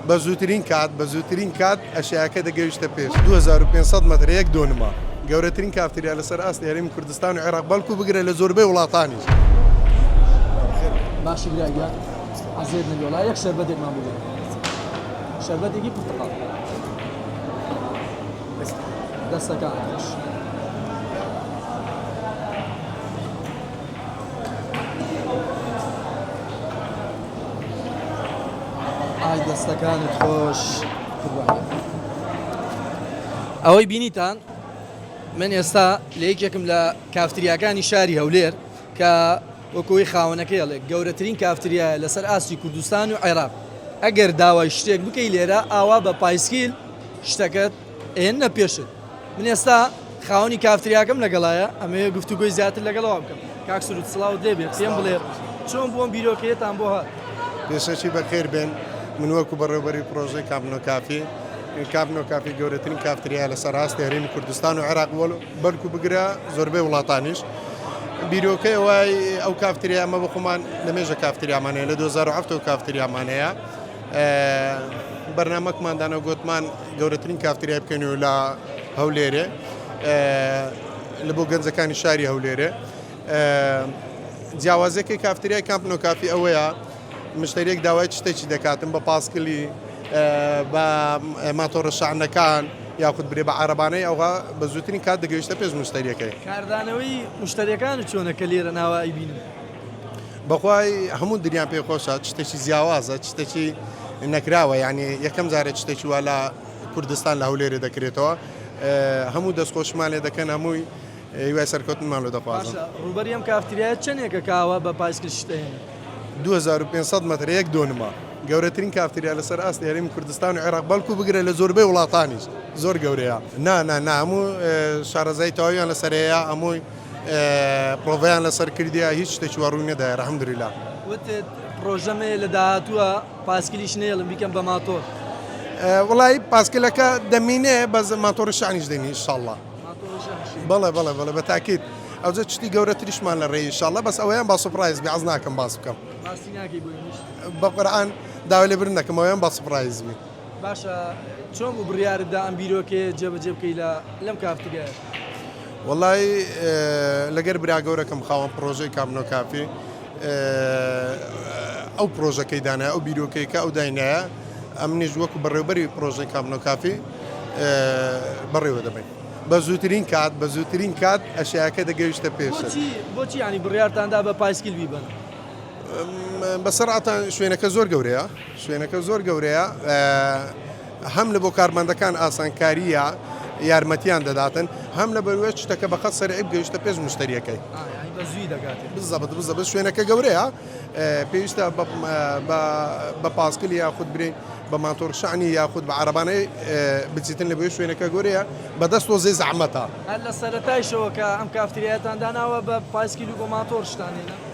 بە زووترین کات بە زووترین کات ئەشیاکە دەگەویشتە پێش دوو هەزار و پێنج سەد مەتر یەک دۆنما گەورەترین کافتریا لەسەر ئاستی هەرێمی کوردستان و عێراق بەڵکو بگرە لە زۆربەی وڵاتانیش. باشی برا گیان عەزێت نەبێ وەڵا یەک شەربەتێکمان بگرە شەربەتێکی پرتەقاڵ دەستەکان خۆش ئەوەی بینیتان من ئێستا لە یەکێکم لە کافتریاکانی شاری هەولێر کە وەکۆی خاونەکە هەڵێک گەورەترین کافتریاە لەسەر ئاستی کوردستان و عێراق ئەگەر داوای شتێک بکەی لێرە ئاوا بە پایسکیل شتەکەت ئێننە پێشت من ئێستا خاوەنی کافتریاکەم لەگەڵایە ئەمەیە گفتوگوی زیاتر لەگەڵەوە بکەم کاک سرود سڵاو دێ بێت پێم بڵێ چۆن بۆم بیرۆکەیەتان بۆ هات پێشەکی بەخێر بێن من وەکو بەڕێوبەری پرۆژەی کابنۆ کافی کابنۆ کافی گەورەترین کافتریا لەسەر ڕاست هەرێمی کوردستان و عێراق بۆ بەرکو بگرە زۆربەی وڵاتانیش بیرۆکەی وای ئەو کافتریامە بە خۆمان لەمێژە کافتریامانەیە لە 2007 کافتریامانەیە بەرنامەکمان دانا و گوتمان گەورەترین کافتریای بکەین و لە هەولێرێ لە بۆ گەنجەکانی شاری هەولێرێ جیاوازەکەی کافتریای کامپنۆ کافی ئەوەیە مشتەرێک داوای شتێکی دەکاتم بە پاسکلی بە ماتۆڕە شانەکان یاخود برێ بە عربانەی ئەوها بە زووترین کات دەگەیشتە پێش مشتەریەکەی کاردانەوەی مشتەریەکان چۆنەکە لێرە ناوە ئەیبین. بەخوای هەموو دنیام پێ خۆشە چ شتێکی جیاوازە چ شتێکی نەکراوە یعنی یەکەم جارە چ شتێکی وا لە کوردستان لە هەولێرێ دەکرێتەوە ئه، هەموو دەستخۆشمان لێ دەکەن هەمووی هیوای سەرکەوتنمان لۆ دەخوازم. باشە ڕووبەری ئەم کافتریایە چەنێکە کاوە بە پایسکل شت ئەهێنێ؟ دوو هەزار و پێنج سەد مەتر یەک دۆنمە. گەورەترین کافتریا لەسەر ئاستی هەرێمی کوردستان و عێراق بەڵکو بگرە لە زۆربەی وڵاتانیش زۆر گەورەیە نا نا نا هەموو شارەزایی تەواویان لەسەر هەیە هەمووی پرۆڤەیان لەسەر کردیە هیچ شتێکی وە ڕووی نەدایە الحمدللە. وتت پرۆژەم هەیە لە داهاتووە پاسکلیش نێڵم بیکەم بە ماتۆر. وەڵایی پاسکلەکە دەمینێ بەس ماتۆڕی شانیش دێنی ئیشاڵڵا بەڵێ بەڵێ بەڵێ بە تاکیت ئەوجە شتی گەورەتریشمان لە ڕێی شاڵە بەس ئەویان با سوپڕایز بێ عەز ناکەم باس بکەم بەقورآن داوا لێ برن نەکەم ئەویان با سوپڕایز بێ باشە چۆن بوو بڕیارت دا ئەم بیرۆکەیە جێبەجێ بکەی لە لەم کافتگایە؟ وەڵایی لەگەر برا گەورەکەم خاوەن پڕۆژەی کابنۆ کافی ئەو پڕۆژەکەی دانای ئەو بیرۆکەیەکە ئەو داینایە ئەمنیش وەکو بەڕێوبەری پڕۆژەی کابنۆ کافی بەڕێوە دەبین بە زووترین کات بە زووترین کات ئەشیاکە دەگەویشتە پێش بۆچی ینی بڕارتاندا بە پایسکیل بیبن؟ بەسەرعاتان شوێنەکە زۆر گەورەیە شوێنەکە زۆر گەورەیە هەم لە بۆ کارمەندەکان ئاسانکاریە یارمەتیان دەداتن هەم لە بەروێت شتەکە بەقە سەرعیب گەیشتە پێش مشتریەکەی بزەبت بزە بە شوێنەکە گەورەیە پێویستە بە پاسکلی یاخود برین بە ماتۆر شانی یاخود بە عربانەی بچیتن لە بۆ شوێنەکە گەورەیە بەدەست تۆ زێ زەحمەتە لە سەرەتایشەوە کە ئەم کافتریاتان داناوە بە پایسکیل و بۆ ماتۆر شتانێنە